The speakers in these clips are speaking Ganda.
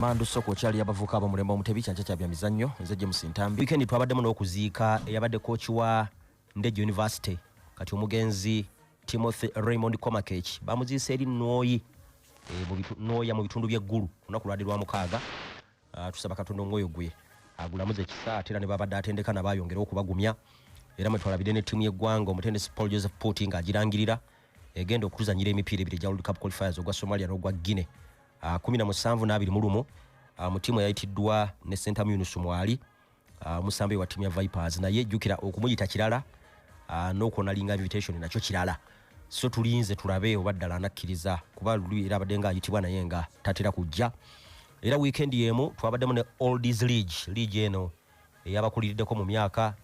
Mandu Soko kyali yabavuka abamulemba omutebi kyanca kya byamizannyo nze James Ntambi weekend twabaddemu n'okuziika eyabadde kooki wa Ndejje University kati omugenzi Timothy Raymond Komakech bamuziise eri Nwoyi e, Nwoya mu bitundu by'eggulu olunaku lwadi lwa mukaaga ah, tusaba Katonda omwoyo gwe agulamuze ekisa ate era ne babadde atendeka nabaayongera okubagumya era mwetwalabidde ne ttiimu y'eggwanga omutendesi Paul Joseph Puti ng'agirangirira egenda okutuzanyira emipiira ebiri egya World Cup qualifiers ogwa Somalia n'ogwa Guinea ah, kumi na musanvu n'abiri mu lumu ah, mu tiimu eyayitiddwa ne sentamu yunusu mwali ah, omusambi wa tiimu ya vipers naye jjukira okumuyita kirala n'okwonalinga invitation nakyo kirala so tulinze tulabe oba ddala anakkiriza kuba luli era abadde nga ayitibwa naye nga tatera kujja era wiikendi y'emu twabaddemu ne oldies league league eno eyabakuliriddeko mu myaka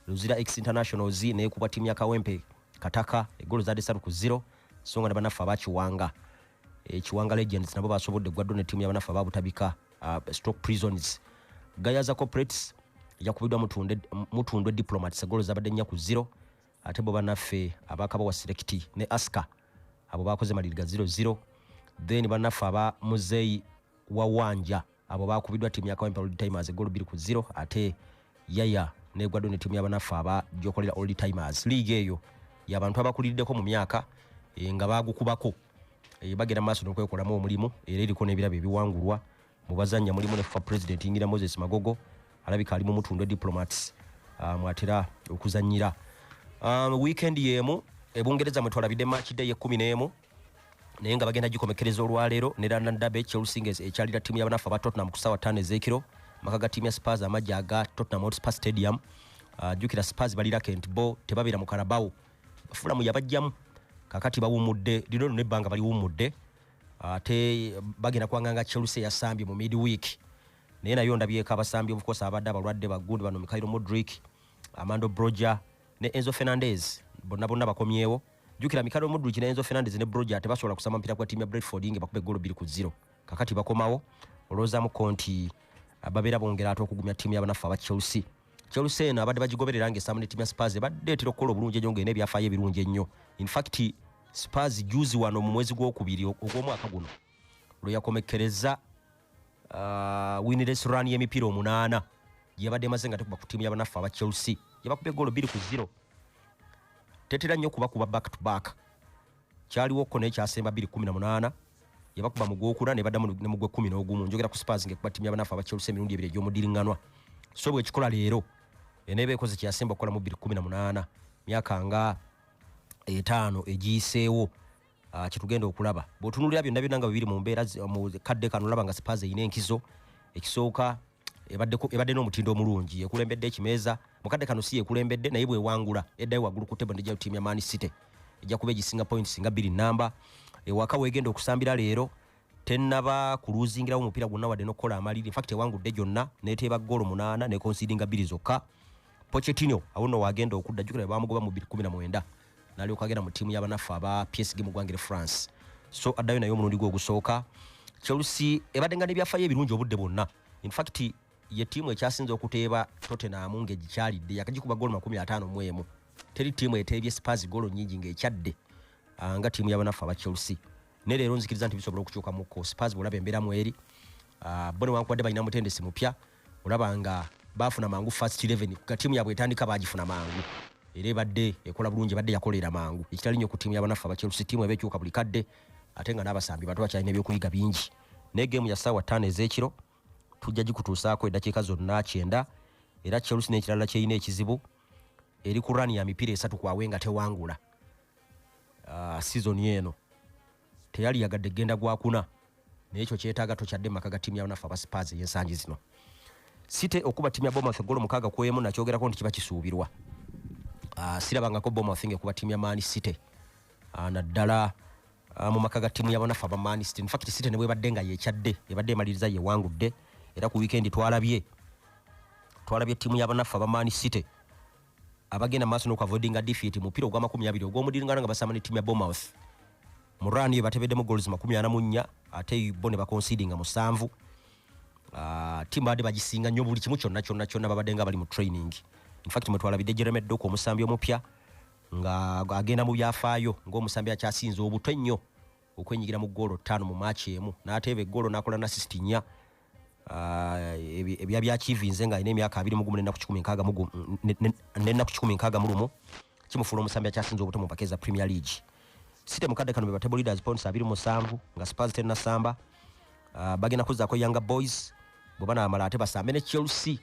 luzira ex internationals naye kuba tiimu ya kawempe kataka egolo zadde satu ku zero so nga ne banaffe abakiwanga ekiwanga eh, legends nabo basobodde gwaddo ne tiimu yabanaffe ababutabika uh, stock prisons gayaza corporates yakubiddwa mutundwe diplomats egolo zabadde nnya ku zero ate bo banaffe abakaba wa selekiti ne aska abo bakoze maliriga zero zero then banaffe aba muzeeyi wa wanja abo bakubiddwa ttiimu ya kawempe old timers eggolo bbiri ku zero ate yaya negwaddwa ne ttiimu yabanaffe aba gyokolera old timers liiga eyo yabantu abakuliriddeko mu myaka eh, nga bagukubako eh, bagenda maaso nokwekolamu omulimu era eriko nebirabo ebiwangulwa mu bazannya mulimu ne fa president yingira moses magogo alabika ali mu mutundwe diplomats ah, mwatera okuzanyira ah, weekend yemu ebungereza mwetwalabidde match day ekumi nemu naye nga bagenda gikomekkereza olwaleero ne london derby chelsea nga ekyalira ttiimu yabanafu aba tottenham ku saawa ttaano ez'ekiro amaka ga ttiimu ya spars amagye aga tottenham hotspur stadium ah, jjukira uh, spars balira kent bo tebabeera mu karabawo fulamu yabajjamu kakati bawumudde lino lino ebbanga baliwumudde ah, ate uh, bagenda kwanganga chelsea yasambye mu mid week naye nayo ndabyeko abasambi obukosa abadde abalwadde bagundi bano mikairo modric amando broger ne Enzo Fernandez bonna bonna bakomyewo jukira Mikado Mudrich ne Enzo Fernandez ne Broja tebasobola kusama mpira kwa timu ya Brentford nge bakube golo biri ku zero kakati bakomawo oloza mu konti ababera bongera ato okugumya timu ya banafa ba Chelsea Chelsea eno abadde bagigoberera nge samu ne timu ya Spurs badde tiro kola obulungi ennyo ngene byafaye ebirungi ennyo in fact Spurs juzi wano mu mwezi gw'okubiri ogw'omwaka guno lwe yakomekkereza uh, winless run y'emipiira omunaana gyebadde emaze nga tekuba ku tiimu yabanaffe aba chelsea gyebakubye goolo bbiri ku zero tetera nnyo kuba kuba back to back kyaliwo kko naye kyasemba bbiri kumi na munaana yabakuba mu gwokuna ne baddamu ne mu gwekumi n'ogumu njogera ku spars ngekuba tiimu yabanaffe aba chelsea emirundi ebiri egy'omudiringanwa so bwekikola leero eneeba ekoze kyeyasemba okukola mu bbiri kumi na munaana myaka nga etaano egiyiseewo Ah, kyetugenda okulaba bwotunulira byonna byonna nga bibiri mu mbeera mu kadde kano olaba nga sipas erina enkizo ekisooka ebadde n'omutindo omulungi yekulembedde ekimeeza mu kadde kano si yekulembedde naye bwewangula eddayo waggulu ku table ndija tiimu ya man city ejja kuba egisinga points nga bbiri namba ewaka wegenda okusambira leero tenaba kuluzingirawo omupiira gwonna wadde n'okukola amaliri infact ewangudde gyonna neteeba goolo munaana nekonsidinga bbiri zokka pochetino awo nno wagenda okudda jukira bamugoba mu 219 nalyoka agenda mu ttiimu yabanaffe aba psg mu ggwanga eri france so addayo naye omulundi gwe ogusooka chelsea ebadde nga nebyafayo ebirungi obudde bwonna infact ye ttiimu ekyasinza okuteeba tottenham ngaegikyalidde yakagikuba goolo makumi ataano mu emu teri ttiimu eteebye spars goolo nyingi ngaekyadde ah, nga ttiimu yabanaffe aba chelsea naye leero nzikiriza nti bisobola okukyuka mukko spars bwolaba embeera mweri ah, bo newankubadde balina mutendesi mupya olaba nga baafuna mangu first 11 nga tiimu yaabwe etandika baagifuna mangu era ebadde ekola bulungi ebadde yakolera mangu ekitali nnyo ku tiimu yabanaffe abachelusi tiimu eba ekyuka buli kadde ate nga n'abasambi bantu bakyalina ebyokuyiga bingi naye geemu ya ssaawa ttaano ez'ekiro tujja gikutuusaako eddakiika zonna kyenda era chelusi n'ekirala kyerina ekizibu eri ku rani ya mipiira esatu kwawe nga tewangula ah, sizoni eno teyali yagadde genda gwakuna naye ekyo kyetaaga tokyadde maka ga tiimu yabanaffe aba spars eyensangi zino site okuba tiimu ya bomath egolo mukaaga kwemu nakyogerako nti kiba kisuubirwa ah, sirabangako bomath nga ekuba tiimu ya maani site ah, naddala ah, mu maka ga tiimu yabanaffe aba maani site infact site ne bwebadde nga yekyadde ebadde emaliriza yewangudde era ku wiikendi twalabye twalabye tiimu yabanaffe aba maani site abagenda maaso n'okuavoidinga defeat mu mupiira ogw'amakumi abiri ogw'omudiringana nga basamba ne ttiimu ya Bournemouth mu run yo batebeddemu goals makumi ana mu nnya ate bo ne baconsidinga musanvu ah, ttiimu babadde bagisinga nnyo buli kimu kyonna kyonna kyonna babadde nga bali mu training infact mwe twalabidde Jeremy Doku omusambi omupya nga agenda mu byafaayo ng'omusambi akyasinze obuto ennyo okwenyigira mu goolo ttaano mu maaki emu n'ateeba egoolo n'akola nasisiti nnya ah, ebya byakiivinze ng'alina emyaka abiri mugumu nenaku kikumi nkaaga mugumu nenaku kikumi nkaaga mulumu kimufuula omusambi akyasinza obuto mu mpaka eza premier league site mukadde kano bebatable leaders points abiri musanvu nga spurs tena samba uh, bagenda kuzaako younger boys bwe banaamala ate basambe ne chelsea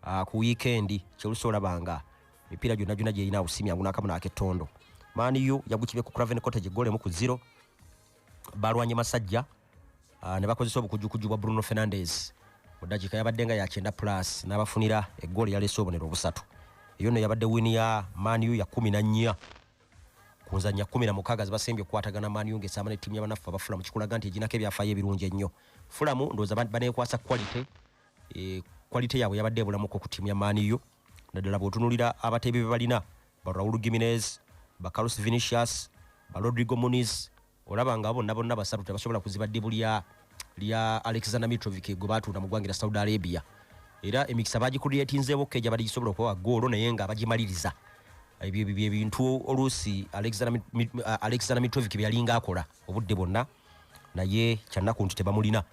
uh, ku wiikendi chelsea olabanga mipiira gyonna gyonna gyerina awusimya ngu nakamu nakettondo maani yo yagukibye ku craven cottage egola emu ku zero balwanye masajja ah, ne bakozesa obukujukujju bwa bruno fernandez mu dakiika yabadde nga yakyenda plus n'abafunira egoolo yaleese obonero obusatu eyo no yabadde wini ya maani yo ya kumi na nnya ku nzannya kumi na mukaaga zibasembye okukwatagana maani yo ng'esaama ne ttiimu yabanaffe abafulamu kikulaga nti eginako ebyafaayo ebirungi ennyo fulamu ndowooza baneekwasa quality e, quality yaabwe yabadde ebulamuko ku tiimu ya maniyo naddala bwotunulira abateebi be balina ba raul giminez ba carlos vinicius ba rodrigo muniz olaba nga bonna bonna basatu tebasobola kuziba ddibu lya lya alexander mitrovic gwe baatunda mu ggwanga lya saudi arabia era emikisa bagikuliyetinzeewo keja bali gisobola okubawa goolo naye nga bagimaliriza ebyo byebintu oluusi alexander mitrovic byeyalinga akola obudde bwonna naye kyannaku nti tebamulina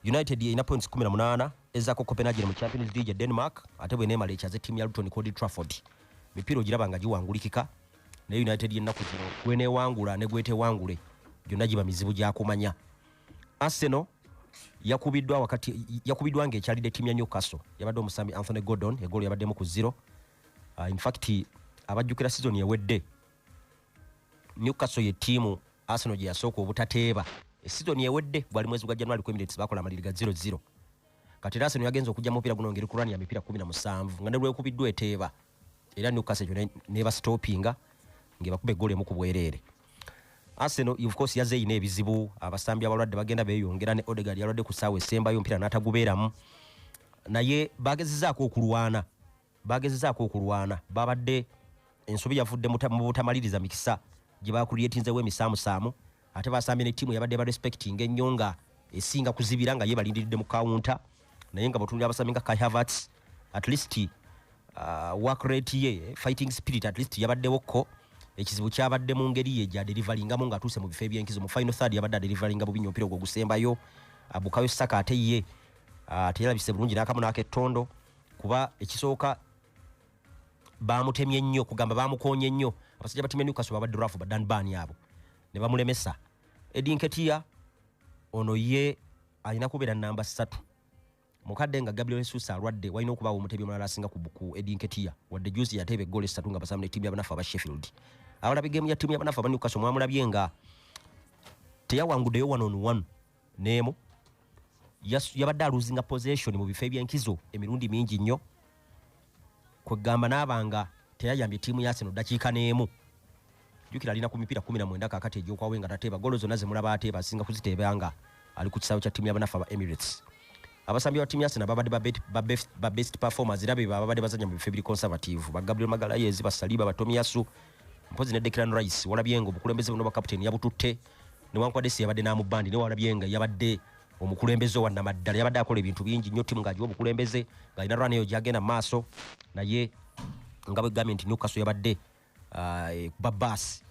united yeyina points 18 ezako copenhagen mu champions league ya denmark ate bwenemala ekyaze tiimu ya luton cod trafford mipiira ogiraba nga giwangulikika naye united yennaku zino gwenewangula negwetewangule gyonna giba mizibu gyakumanya arsenal yakubiddwa wakati yakubiddwa nga ekyalidde tiimu ya newcastle yabadde omusambi anthony gordon egoolo yabaddemu ku zero uh, infact abajjukira sizoni ewedde newcastle ye tiimu arsenal gye yasooka obutateeba esizoni ewedde gwali mwezi gwa january ku emirates bakola amaliri ga 00 kati era arsenal yagenza okujja mupiira guno ngeri kulwani ya mipiira 17 nga nelwekubiddwa eteeba era newcastle ekyo nebastopinga ngebakuba eggolo emu ku bwereere arsenal of course yaze eyina ebizibu abasambi abalwadde bagenda beyongera ne odegard yalwadde ku saawa esembayo omupiira n'atagubeeramu naye bagezezaako okulwana baagezezaako okulwana baabadde ensobi yavudde mu butamaliriza mikisa gye baakuliyetinzewo emisaamusaamu ate baasambye ne ttiimu yabadde ba respecting ennyo nga esinga kuzibira nga ye balindiridde mu kawunta naye nga bwetunulira abasambi nga kai havats at least uh, work rate ye fighting spirit at least yabaddewo ko ekizibu kyabadde mu ngeri ye gyaderivalingamu ngaatuuse mu bifo ebyenkizo mu final third yabadde aderivalinga bubi nyo omupiira ogwo ogusembayo abukayo saka ate ye uh, teyalabise bulungi n'akamu n'akettondo kuba ekisooka bamutemye nnyo kugamba bamukonye nnyo abasajja batemye newcastle babadde rafu badan bani abo ne bamulemesa edinketia ono ye alina kubeera namba satu mukadde nga gabriel jesus alwadde walina okubaawo omutebi omulala asinga ku edinketia wadde juzi yateeba egoolo esatu nga basamu ne tiimu yabanafu aba sheffield abalabi gemu ya tiimu yabanafu aba newcastle mwamulabye nga teyawanguddeyo one on one neemu yabadde aluzinga possession mu bifo ebyenkizo emirundi mingi nnyo kwegamba naabanga teyayambye ttiimu ya seno ddakiika n'emu jukira alina ku mipiira kumi na mwenda kakati egyokwawe nga tateeba golo zonna zemulaba ateeba asinga kuziteeba nga ali ku kisaawe kya ttiimu yabanafe aba emirates abasambi ba ttiimu ya sena babadde ba best performers era beba babadde bazanya mu bifo ebiri conservative ba gabriel magalayezi basaliba batomiyasu mpozi ne declan rice walabye nga obukulembeze buno bakaputeni yabututte newankubadde si yabadde n'amubandi naye walabye nga yabadde omukulembeze owa namaddala yabadde akola ebintu bingi nnyo ttimu ng'agiwa obukulembeze ng'alina rwani eyo gyagenda maaso naye nga bwegambye nti newkaso yabadde ah, e, kuba baasi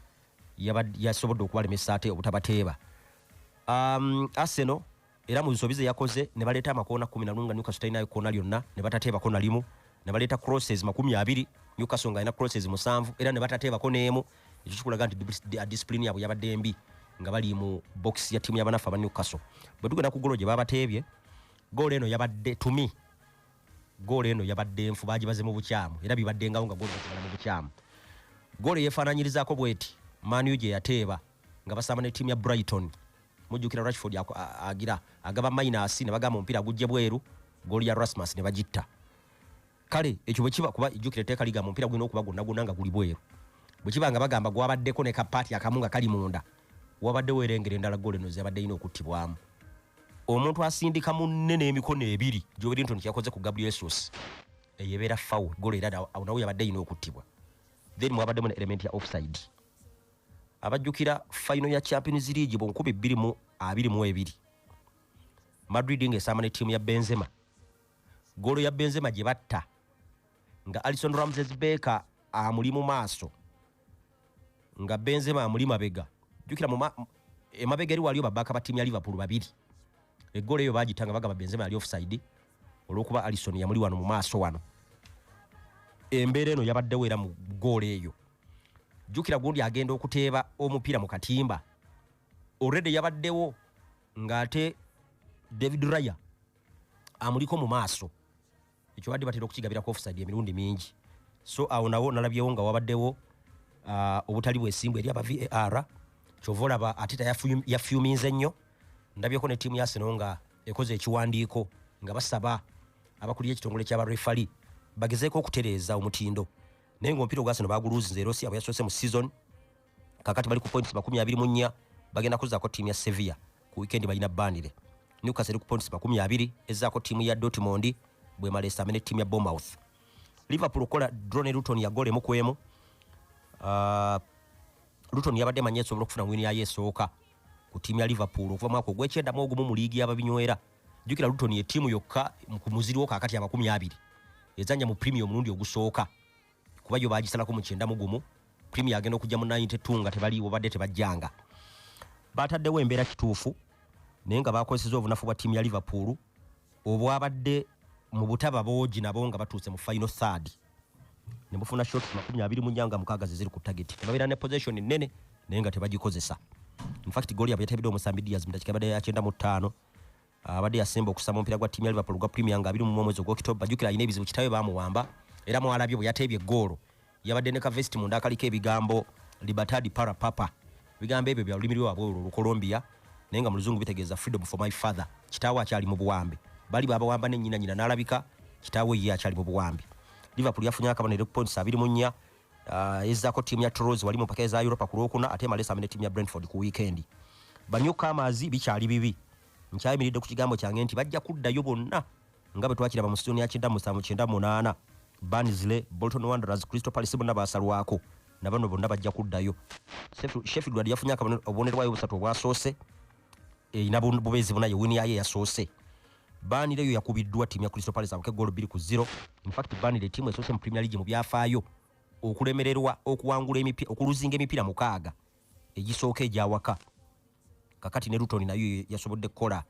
yasobodde okubalemesa ate obutabateeba um, arsenal era mu nsobi ze yakoze ne baleeta amakoona kumi nalumu nga newcastle talinayo koona lyonna ne batateebako nalimu ne baleeta crosses makumi abiri newcastle nga alina crosses musanvu era ne batateebako n'emu ekyo kikulaga nti disipulini yaabwe yabadde embi nga bali mu box ya timu yabanafu aba newcastle bwe tugenda ku golo gye babateebye goolo eno yabadde tumi goolo eno yabadde nfu bagibaze mu bukyamu era bibaddengawo nga goolbala mu bukyamu goolo yeefaananyirizaako bweti maniu gye yateeba nga basamba ne tiimu ya brighton mujjukira rashford agira agaba minus ne bagamba omupiira gujje bweru gooli ya rasmus ne bagitta kale ekyo bwe kiba kuba jjukira etteeka ligamba omupiira gulina okuba gwonna gwonna nga guli bweru bwe kiba nga bagamba gwabaddeko ne kapaati akamu nga kali munda wabadde weerengera endala goolo eno zebadde yina okuttibwamu omuntu asindika munne n'emikono ebiri gyobiri nti kyakoze ku gabriel sos eyo ebeera fowl goolo era awo nawo yabadde yina okuttibwa then mwabaddemu ne element ya offside abajjukira fayino ya champions league mu nkumi bbiri mu abiri mu ebiri madrid ng'esaama ne ttiimu ya benzema golo ya benzema gye batta nga alison ramses baker amuli mu maaso nga benzema amuli mabega jukira emabega eri waliyo babaka ba tiimu ya liverpool babiri eggolo eyo bagita nga bagamba benzema yali offside olwokuba alison yamuli wano mu maaso wano embeera eno yabaddewo era mu goolo eyo jukira gundi agenda okuteeba omupiira mu katimba already yabaddewo ng'ate david raya amuliko mu maaso ekyo badde batera okukigabirako offside emirundi mingi so awo nawo nalabyewo nga wabaddewo uh, obutali bwesimbu eri aba var kyova olaba ateta yafyuminze nnyo ndabyeko ne tiimu yasino nga ekoze ekiwandiiko nga basaba abakulira ekitongole kyaba refali bagezeeko okutereeza omutindo naye ngaomupiira ogwasino baguluuzinze erosia bweyasoose mu season kakati bali ku points makumi abiri mu nnya bagenda kuzaako ttiimu ya sevilla ku wikendi balina bandire newcastle eri ku points makumi abiri ezaako ttiimu ya dortmond bwemala esame ne ttiimu ya bomouth liverpool okukola drone luton ya gola emu ku emu uh, luton yabadde manyi esobola okufuna wini yayo esooka ku ttiimu ya liverpool okuva mwaka ogwekyendamu ogumu mu liigi yababinywera jukira luton ye tiimu yokka ku muziri wo kakati amakumi abiri ezanya mu premier omulundi ogusooka kuba yo bagisalako mu kyenda mu gumu premier agenda okujja mu 92 nga tebaliiwo badde tebajjanga bataddewo embeera kituufu naye nga bakozeseza obunafu bwa tiimu ya liverpool obwabadde mu butaba boogi nabo nga batuuse mu final third ne mufuna shot makumi abiri mu nyanga mukaaga zeziri ku target ne babeera ne possession nnene naye nga tebagikozesa in fact gooli yabwe yatabidde omusambi diaz mu dakika yabadde yakyenda mu ttaano abadde yasemba okusaba omupiira gwa ttiimu ya liverpool gwa premier nga abiri mu omwezi ogwokitoba jukira alina ebizibu kitawe bamuwamba era mwalabye bwe yateebye eggoolo yabadde ne kavesiti munda akaliko ebigambo libertad para papa ebigambo ebyo bya lulimi lwewabwe olwo olucolombia naye nga mu luzungu bitegeeza freedom for my father kitaawe akyali mu buwambe bali babawamba ne nyina nyina n'alabika kitaawe ye akyali mu buwambe liverpool yafunye akabonero ku points abiri mu nnya Uh, ezzako ttiimu ya Toulouse wali mu mpaka eza Europa ku Lwokuna ate emala esaambe ne ttiimu ya Brentford ku wiikendi. Banyukaamaazi bikyali bibi. Nkyayimiridde ku kigambo kyange nti bajja kuddayo bonna nga bwe twakiraba mu sizoni ya kyenda musanvu kyenda munaana Barnsley, Bolton Wanderers, Crystal Palace bonna baasalwako na bano bonna bajja kuddayo. Sheffield wali yafunye akabonero bwayo busatu obwasoose erina bubeezi buna ye wini yaayo eyasoose. Banire yo yakubiddwa tiimu ya Crystal Palace abuke goolo bbiri ku zero. In fact Banire tiimu esoose mu Premier League mu byafaayo okulemererwa okuwangula emipiira okuluzinga emipiira mukaaga egisooka egyawaka kakati ne Luton nayo yasobodde kukola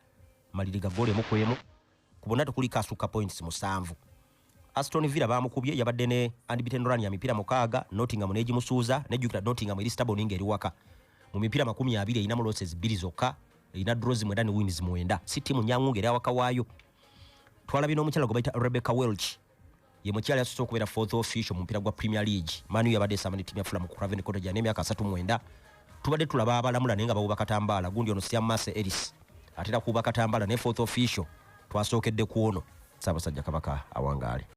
maliri ga goolo emu ku emu ku bonna tekuliko asukka points musanvu. Aston Villa baamukubye yabadde ne unbeaten run ya mipiira mukaaga Nottingham n'egimusuuza nejjukira Nottingham eri stubborn ng'eri waka mu mipiira makumi abiri erinamu losses bbiri zokka erina draws mwenda ne wins mwenda si ttiimu nnyangu ng'eri awaka waayo twalabye n'omukyala gwe bayita Rebecca Welch ye mukyala yasose okubeera fourth official mu mupiira gwa Premier League Man U yabadde esamba ne ttiimu ya Fulham ku Craven Cottage n'emyaka asatu mwenda tubadde tulaba abalamula naye nga bawuba katambaala gundi ono syamase eris atera kuuba katambaala ne fourth official twasookedde ku ono ssaabasajja kabaka awangaale